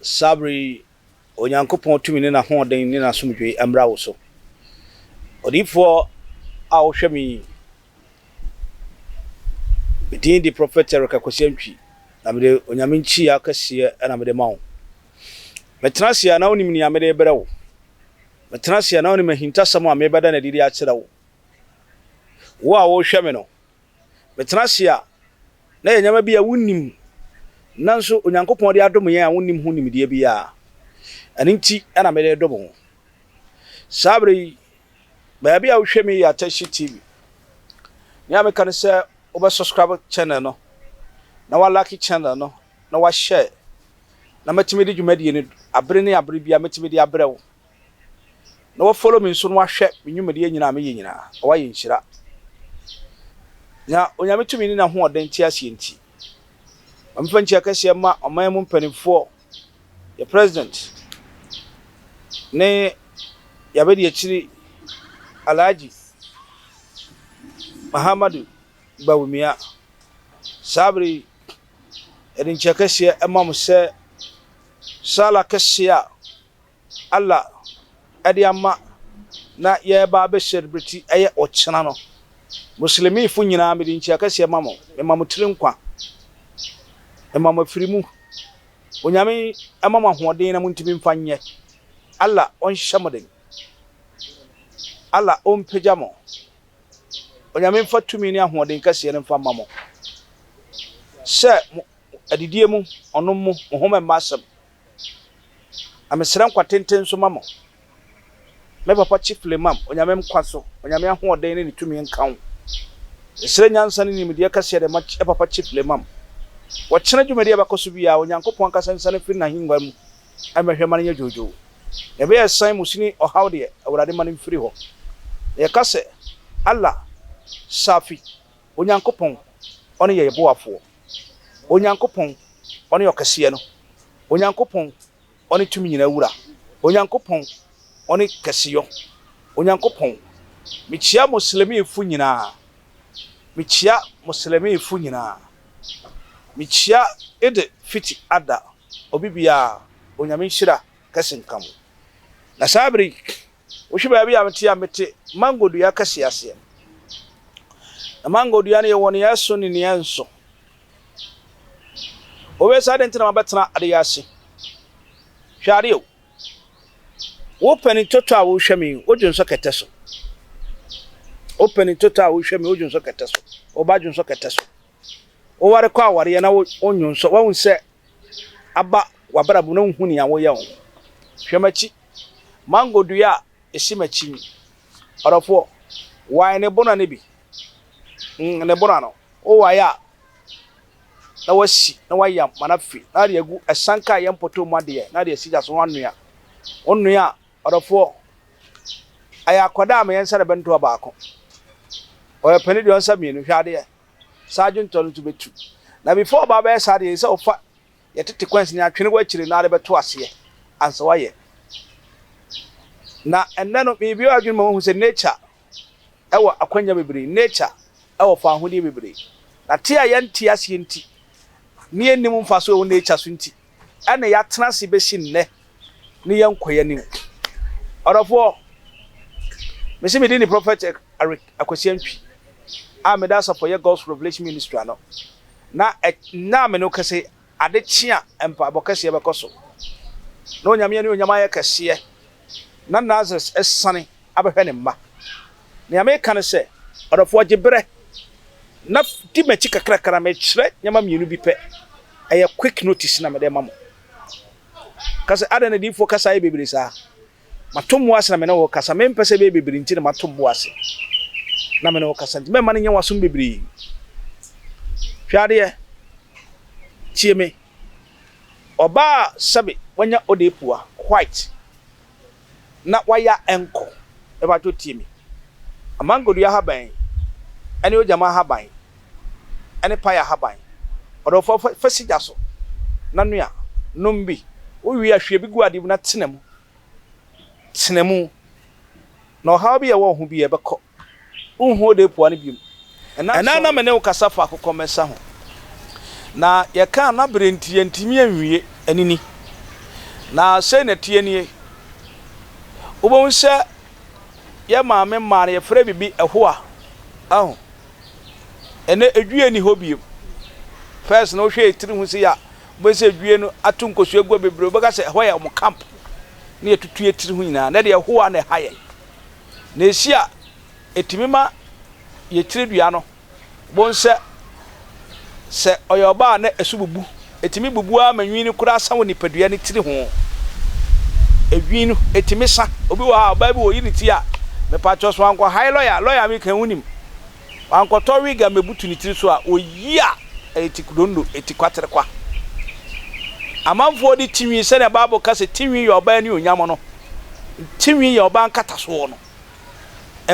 Saa bere yi, Onyankopɔn tumi ne n'ahoɔden ne n'asomdwoe mmra wo so. Odiyifoɔ a wohwɛ me yi, me din de Prɔfɛt Eric Akwasi Antwi, na mede Onyame nkyia kɛseɛ na mede ma wo. Metena ase a, na wonim nea mede rebrɛ wo. Metena ase a, na wonim ahintasɛm a merebɛda no adi de akyerɛ wo. Wo a worehwɛ me no, Metena ase a, na ɛyɛ nneɛma bi a wonnim, nanso Onyankopɔn de adom yɛn a wonnim ho nimdeɛ biara. Ɛno nti na mede redom wo. Saa bere yi, baabi a wohwɛ me yɛ Atashi TV. Nea meka ne sɛ wobɛsubscribe channel no, na woalike channel no, na woashare, na matumi de dwumadie no bere ne abere biara, mɛtumi de abrɛ wo. na wa follow me nso na wahwɛ me nnwumadie nyina a meyɛ nyina na wayɛ nhyira na onyame tumi ne n'ahoɔden te aseɛ nti ma mefa nkyia kɛseɛ ma ɔman mu mpanimfoɔ yɛ president ne yɛabɛdi akyiri alhaji mahamadu bawumia saa bere yi ɛde nkyia kɛseɛ ma mo sɛ sala kɛseɛ a Allah de ama na yɛreba abɛhyɛ no bere ti ɛyɛ ɔkyena no. Muslimifo nyinaa, mede nkyia kɛseɛ ma mo, mema mo tiri nkwa, mema mo afiri mu. Onyame mma mo ahoɔden na montumi mfa nyɛ. Allah ɔnhyɛ mo den. Allah ɔmpagya mo. Onyame mfa tumi ne ahoɔden kɛseɛ no mfa mma mo sɛ mo adidie mu, ɔnom mo, mo ho mɛmma asɛm. Na mesrɛ nkwa tenten nso ma mo. Me papa Chief Limam, Onyame nkwa so, Onyame ahoɔden ne ne tumi nka wo. Mesrɛ nyansa ne nimdeɛ kɛseɛ de ma yɛ papa Chief Limam. Wɔ kyena dwumadi a ɛbɛkɔ so biara, Onyankopɔn ankasa nsiane mfiri n'ahengua mu mmɛhwɛ ma no nyɛ dwoodwoo. Nea ɛbɛyɛ a ɛsan mu sini ɔhaw deɛ, Awurade mma no mfiri hɔ. Na yɛka sɛ, Allah, Safi, Onyankopɔn, ɔne yɛn boafoɔ. Onyankopɔn, ɔne Ɔkɛseɛ no, Onyankopɔn, ɔne Tumi Nyinaa Wura, Onyankopɔn, ɔne Kɛseyɔ, Onyankopɔn, mekyia Muslimifo nyinaa, mekyia Muslimifo nyinaa, mekyia Eid Fitr Adha, obi biara, Onyame nhyira kɛse nka mo. Na saa bere yi, Wohwɛ baabi a mete a, mete mango dua kɛseɛ aseɛ. Na mango dua no yɛwɔ nea ɛso ne nea ɛnso. Wobɛsa adɛn nti na mabɛtena adeɛ ase? Hwɛ adeɛ o. Wo panin toto a wohwɛ me yi, wodwo nsɔ kɛtɛ so. Wo panin toto a wohwɛ me, wodwo nsɔ kɛtɛ so. Wo ba dwo nsɔ kɛtɛ so. wowarekɔ awareɛ na wonnwo nsɔ woahu sɛ aba w'abrabɔ mu na wonhu nea woyɛ ho hwɛ m'akyi mango dua a ɛsi m'akyi yi ɔdɔfoɔ wae ne bona no bi mm, ne bona no wowae a na wasi na wayam ma no afi na de agu ɛsanka a yɛ mpɔtɔ mu adeɛ na de asi gya so wanoa wonnoa a ɔdɔfoɔ ayɛ akwadaa a meyɛ nsa de bɛntoa baako ɔyɛ pɛne deɛ ɔnsa mmienu hwɛ adeɛ saa adwentɔ no nso bɛtu. Na before ɔba bɛyɛ saa deɛ, ɛsɛ sɛ ɔfa yɛ tete coins no atwene w'akyire na ade bɛto aseɛ ansa wayɛ. Na ɛnnɛ no, mebue w'adwene ma woahu sɛ nature ɛwɔ akwanya bebree, nature ɛwɔ faahodeɛ bebree. Na te a yɛnte aseɛ nti, ne yɛnnim mfasoɔ ɛwɔ nature so nti, ɛna yɛatena ase bɛsi nnɛ ne yɛn nkɔeɛanim. Ɔdɔfoɔ, mese medi ne Prophet Eric Akwasi Antwi a meda Asafɔyɛ God's Revelation Ministry ano, na nna a me ne wo kɛse ade kye a mpaabɔ kɛseɛ bɛkɔ so, na Onyame anuonyam ayɛ kɛseɛ na Nazaret asiane abɛhwɛ ne mma. Nea mereka ne sɛ, ɔdɔfoɔ, gye berɛ na di m'akyi kakrakra. Merekyerɛ nneɛma mmienu bi pɛ. Ɛyɛ quick notice na mede rema mo. Ka sɛ, Adɛn na adiyifoɔ kasa yɛ bebree saa? Matom wo ase na me ne wo rekasa. Mempɛ sɛ ɛbɛyɛ bebree nti na matom wo ase na me ne wo rekasa, nti mɛmma no nyɛ w'asom bebree. Hwɛ adeɛ, tie me. Ɔbaa a sɛbe wanya Odepuwa white na waya ɛnkɔ mepakyɛw tie me. Amangodua ahaban yi ɛne ogyama ahaban yi ɛne paya ahaban yi ɔdɔ fa fa fa si gya so na noa nom bi wo wie a hwie bi gu ade mu na tena mu tena mu na ɔhaw bi a ɛwɔ wo ho biara ɛbɛkɔ. Wonhu Odepoa no biom. Ɛnã a na me ne wo kasa fa akokɔmmɛsa ho, na yɛkaa na bere nti yɛantumi anwie, anini. Na sei na ɛteɛ nie. Wobɛhu sɛ yɛn maame mmaa no, yɛfrɛ biribi ɛhoa. Ahu? Ɛnnɛ edwie nni hɔ biom. First no wohwɛ yɛn tiri ho sei a, wobɛhu sɛ edwie no ato nkosua gua bebree. Wobɛka sɛ ɛhɔ yɛ wɔn camp, na yɛatutu yɛn tiri ho nyinaa. Ɛnnɛ deɛ ɛhoa na ɛha yɛn. na esi a, etumi ma yɛn tiridua no bo nsɛ. Sɛ ɔyɛ ɔbaa a na ɛso bubu, etumi bubu ara ma nhwi no koraa sa wɔ nipadua no tiri ho. Nhwi no, etumi sa. Obi wɔ hɔ a, ɔbaa bi wɔyi ne ti a, mepakyɛw so wankɔhae lɔya a, lɔya a meka yi wunim. Wankɔtɔ wig a mebutu ne tiri so a oyi a ɛyɛ tikudonno, etikwaterekwa. Amanfoɔ de tinwi, sɛnea Bible ka sɛ tinwi yɛ ɔbaa anuonyam no, tinwi yɛ ɔbaa nkatasoɔ no.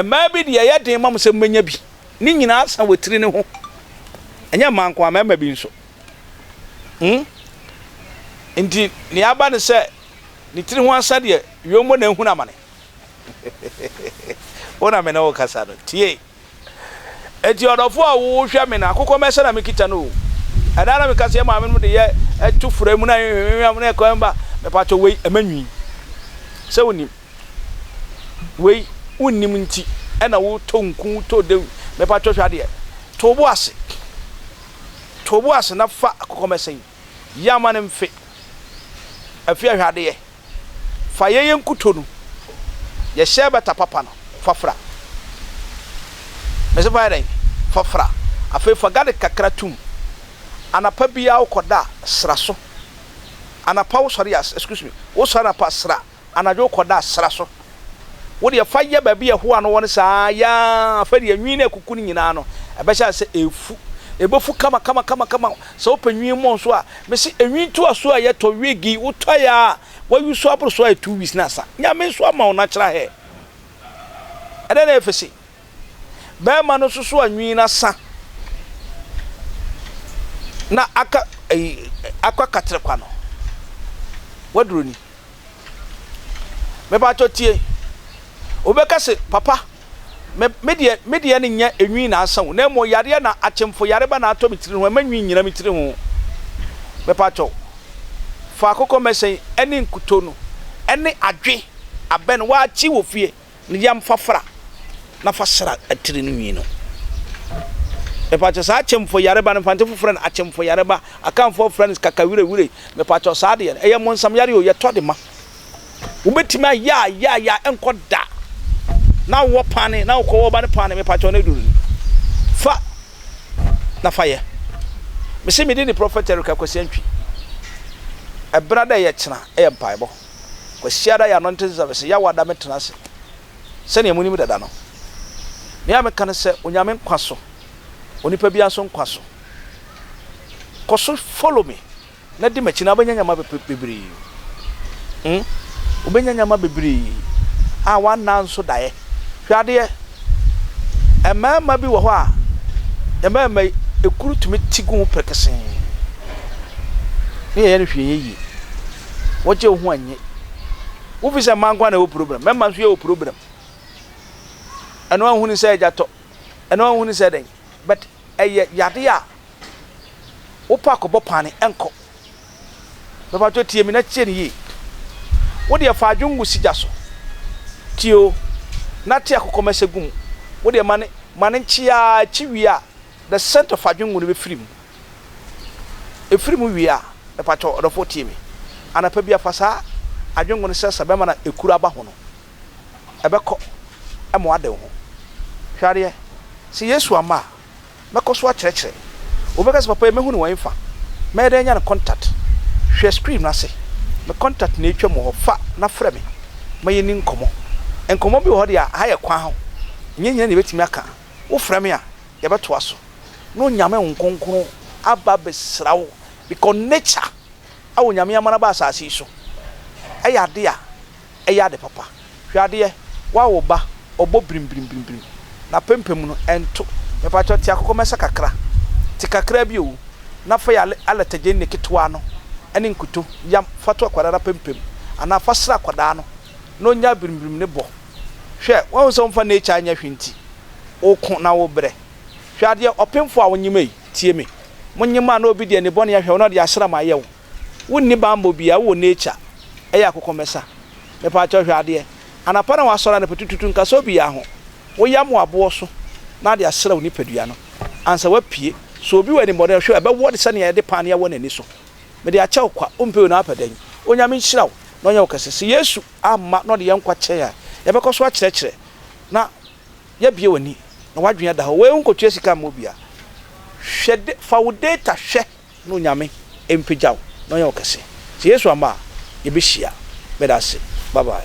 Mmaa bi deɛ ɛyɛ den ma wɔn sɛ wɔbɛnya bi. Ne nyinaa sa wɔ tiri no ho. Ɛnyɛ mmaa nko ara, mmarima bi nso. Hmm? Nti, nea aba ne sɛ ne tiri ho asa deɛ, wieommɔ na ahunu amane. Wo na me ne wo rekasa no, tie! Enti ɔdɔfo a wohwɛ me no, akokɔmɛsɛ na mekita no o. Ɛda a na meka sɛ yɛn maamenom de yɛ to fura mu na yɛnhwehwehwɛm na ɛkɔm ba, mepatwɔ wei, ɛma nwi. Sɛ wonim. Wei, wonnim nti ɛna wotɔ nku, wotɔ dawuru. Mepatwɔ hwɛ adeɛ. To wo bo ase. To wo bo ase na fa akokɔmɛsɛ yi. Yɛ ama no mfe. Afie a hwɛ adeɛ. Fa yɛ yɛ nkuto no. Yɛ hyɛ bɛta papa no fa fra. Mese fa yɛ dɛn? Fa fra. Afei fa garlic kakra tum. Anapa biara wo kɔ da a, sra so. Anapa wo sɔre a, excuse me, wo sɔre anapa a, sra. anadwo kɔda sra so. Wo deɛ fa yɛ baabi a ɛhoa no wɔ no saa ara yɛ ara, fa deɛ nwi no akuku no nyinaa no, ɛbɛhyɛ ase sɛ ɛrefu. Ɛbɛfu kamakamakama. Sɛ wopɛ nwi mmɔ nso a, mese nwi ntoasoɔ a yɛtɔ, wig yi, wotɔ yɛ ara a, woayusu aboro so ayɛ two weeks na asa. Nyame nso ama wo natural hair. Ɛdɛn na ɛyɛ fɛ sei? Barima no nso so a nwi no asa na aka ayi akɔ akatere kwa no. Waduro ni. Mepatɔ tie. Wobɛka se papa me me deɛ me deɛ no nyɛ enwi na asa o na mmom yareɛ na akyemfo yareba na atɔ me tiri ho ɛma nwi nyina me tiri ho. Mepatɔ fa akokɔ mɛsɛn ɛne nkuto no ɛne adwe abɛ no wakye wɔ fie. ne yam fa fra na fa sra atiri no nwi no. Mepatwɔ saa akyɛmfo yareba no mfante fofrɛ no akyɛmfo yareba akanfoɔ frɛ no kakawirewire mepatwɔ saa deɛ no ɛyɛ monsam yare o yɛtɔ de ma wobɛtumi ayɛ a yɛ a yɛ a ɛnkɔ da na wowɔ paane na wokɔ wɔba no paane mepatwɔ no aduru no fa na fa yɛ mese mede ne prɔfɛt Erika Kwasi Antwi ɛbra dɛ yɛ kyena ɛyɛ mpaebɔ Kwasiada yɛ ano nte sesɛ mese Yawe ada me tena ase sɛnea monim dada no. Nea meka ne sɛ Onyame nkwa so, onipa biara nso nkwa so. Kɔ so follow me na di m'akyi na wobɛnya nyama bebree. Hmm? Wobɛnya nyama bebree a w'anaa nso daeɛ. Hwɛ adeɛ, mmarima bi wɔ hɔ a, mmarima yi, ekuru tumi ti gu ho perekesee. Ne yɛyɛ no hwee yɛ yie. wɔgye wo ho annye. Wofi sɛ mma nko na ɛwɔ program, mmarima nso yɛwɔ program. Ɛno anhu ne sɛ agya tɔ, ɛno anhu ne sɛ dɛn, but ɛyɛ yade a wopɛ akɔbɔ paane ɛnkɔ. Bɛpatwɔ tie mi na tie ne yie. Wo deɛ fa adwene gu sigya so. Tie o, na te akokɔmɛsɛ gu mu. Wo deɛ ma ne ma ne nkye ara, ɛkye wie a. The scent of adwengo no bɛfiri mu. Ɛfiri mu wie a, mepakyɛw ɔdɔfoɔ tie me. Anapa bi a, fa saa adwengo no srɛsrɛ bɛmma na ɛkuru aba ho no, ɛbɛkɔ ma woade wo ho. Hwɛ adeɛ, sɛ Yesu amma a, mɛkɔ so akyerɛkyerɛ. Wobɛka sɛ, Papa yi, mɛhunu wɔn fa? Mɛyɛ dɛn anya ne contact? Hwɛ screen no ase. Me contact na ɛretwam wɔ hɔ. Fa na frɛ me ma yɛnni nkɔmmɔ. Nkɔmmɔ bi wɔ hɔ deɛ a, ha yɛ kwan ho. Ɛnyɛ hia na yɛbɛtumi aka. wo frɛ me a yɛ bɛ toa so na onyame nkonkron aba bɛ sra wo because nature a onyame ama no aba asaase yi so ɛyɛ ade a ɛyɛ ade papa hwɛ adeɛ wa wo ba ɔbɔ brim brim brim brim na pɛmpɛm no ɛnto mepakyɛw te akokɔ mɛsa kakra te kakra bi oo na fa yɛ alɛtɛgyɛnne ketewa no ɛne nkuto yam fa to akwadaa no apɛmpɛm anaa fa sra akwadaa no na ɔnya brim brim ne bɔ. Hwɛ, woahu sɛ womfa nature nyɛ hwee nti, woko na wobrɛ. Hwɛ adeɛ, ɔpemfoɔ a wonyima yi, tie me. Monyima a na obi de anibɔne ahwɛ wo na ɔde asram ayɛ wo. Wonni bammɔ biara, wowɔ nature, ɛyɛ akokɔmmɛsa. Mepaakyɛw hwɛ adeɛ, anapa na woasɔre anɔpa tututu, nkasa obiara ho. Woyam wo aboɔ so na ade asra wo nipadua no ansa woapue. So obi wɔ anibɔne a, hwɛ, ɛbɛwɔ te sɛ nea yɛde paanea wɔ n'ani so. Mede akyɛ wo kwa, wompɛ wei na woapɛ dɛn? Onyame nhyira wo na ɔnyɛ wo kɛse. Se Yesu. amma na ɔde yɛn nkwa kyɛe a, yɛbɛkɔ so akyerɛkyerɛ na yɛabue w'ani na w'adwene ada hɔ. Wei nkotua sika mma obiara. Hwɛ de, fa wo data hwɛ na Onyame mpagya wo na ɔnyɛ wo kɛse. Sɛ Yesu amma a, yɛbɛhyia. Meda ase. Bye bye.